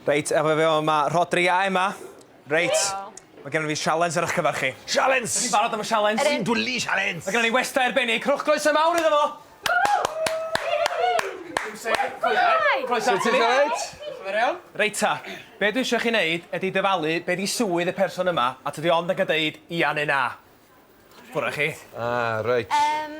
Reit, efo fi yma, mae Rhodri a Emma. Reit, mae gennym fi sialens ar eich cyfer chi. Sialens! Ydyn ni'n barod am y sialens? Ydyn. Sy'n dwli sialens! Mae gennym ni westai arbennig, rhowch groeso mawr iddo fo! Shwmae! Croeso ati ni! Reit ta, be dwi eisiau chi wneud ydy dyfalu be di swydd y person yma a tydi ond yn gallu deud ia neu na. Ffwr â chi. Ah, reit. Yym,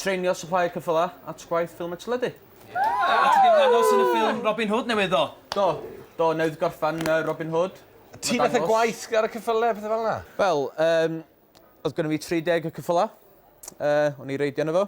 Treinio Supplier Ceffyla at gwaith ffilm a teledu. A ti 'di ymddangos yn y ffilm Robin Hood newydd ddo? Do. Do, newydd gorffan yy Robin Hood. Ti methu gwaith ar y ceffyle a pethe fel 'na? Wel, yym, o'dd gynno fi tri deg o ceffyla. Yy, o'n i reidio arno fo.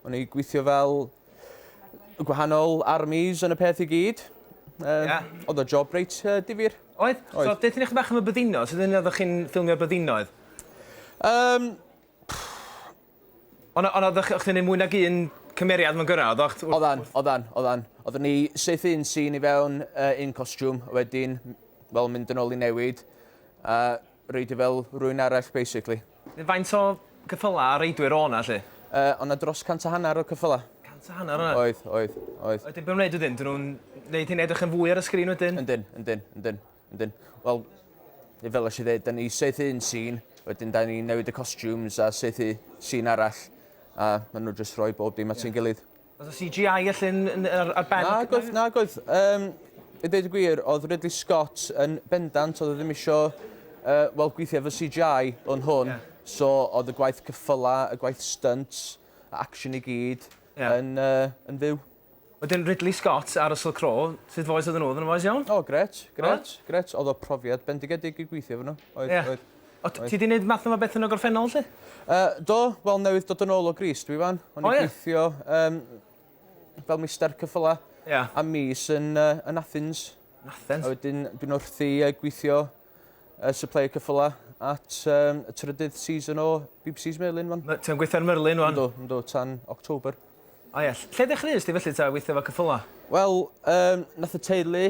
O'n i gwithio fel y gwahanol armies yn y peth i gyd. Yy... Ia? O'dd y job reit yy difyr. Oedd? Oedd. So deutha ni chydig bach am y byddinodd. Sud o'dd chi'n ffilmio byddinoedd? Yym, Ond ond oedd o'ch chdi'n neud mwy nag un cymeriad mewn gyrra? Oeddach t- Oddan, oddan, oddan. Oeddwn ni syth un sîn i fewn uh, un costiwm, a wedyn, wel, mynd yn ôl i newid, a reidio fel rwy'n arall, basically. Faint o cyffyla a reidwyr o na, lle? Uh, ond na dros cant a hanner o cyffyla. Cant a hanner yna? Oedd, oedd, oedd. Ydyn, beth wneud wedyn? Dyn nhw'n wneud hyn edrych yn fwy ar y sgrin wedyn? Yndyn, yndyn, yndyn. Wedyn, wel, fel eisiau dweud, da ni seithi un sîn, wedyn da ni'n newid y costumes a seithi sîn arall, a maen nhw jyst rhoi bob dim at yeah. gilydd. Oedd y CGI allan ar, ar ben? Na, gwaith, na, gwaith. Um, I dweud y gwir, oedd Ridley Scott yn bendant, oedd e ddim eisiau uh, wel, gweithio efo CGI o'n hwn, yeah. so oedd y gwaith cyffyla, y gwaith stunt, action i gyd, yeah. yn, uh, yn fyw. Wedyn Ridley Scott a Russell Crowe, sut fois oedden nhw? Oedden nhw'n fois iawn? O grêt, grêt, grêt. Oedd o profiad bendigedig i gweithio efo nhw. Oedd, yeah. oedd. O, oedd. ti di wneud math yma beth yn y gorffennol, lle? Uh, do, wel newydd dod yn ôl o Gris, dwi fan. O'n oh, i'n gweithio um, fel mister cyffyla yeah. a mis yn, uh, yn Athens. Yn Athens? A wedyn dwi'n wrthi uh, gweithio y supplier cyffylau at um, y trydydd season o BBC's Merlin fan. Ti'n gweithio ar Merlin fan? Ynddo, ynddo, tan October. O ie, lle ddechreuais ti felly ta weithio fo cyffylau? Wel, um, nath y teulu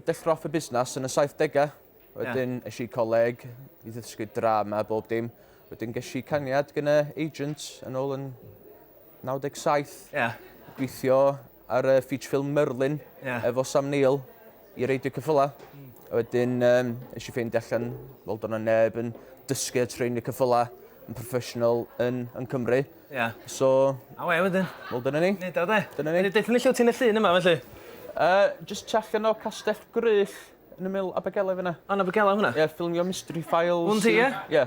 dechrau off y busnes yn y 70au. Wedyn yeah. eisiau coleg, i ddysgu drama, bob dim. Wedyn ges i cangiad gyda agent yn ôl yn 97. Yeah. Gweithio ar y feature film Merlin yeah. efo Sam Neill i reid y cyffyla. Mm. A wedyn, um, nes i ffeindio allan, fel do'n neb yn dysgu a trein y cyffyla yn professional yn, yn Cymru. Ie. Yeah. So... A we wedyn? Wel, dyna ni. Nid o, de. Dyna ni. Dweud ni lle ti'n y llun yma, felly? Uh, just tu allan o Castell Gryll yn y mil Abergele fyna. Yn Abergele hwnna? Ie, yeah, ffilmio Mystery Files. Hwn ti, ie? Ie.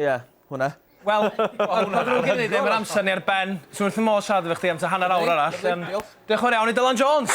Ie, hwnna. Wel, ma'n ddrwg gen i ddim yr amser ni ar ben. Swn wrth fy modd siarad efo chdi am ta hanner awr arall. Diolch yn fawr iawn i Dylan Jones!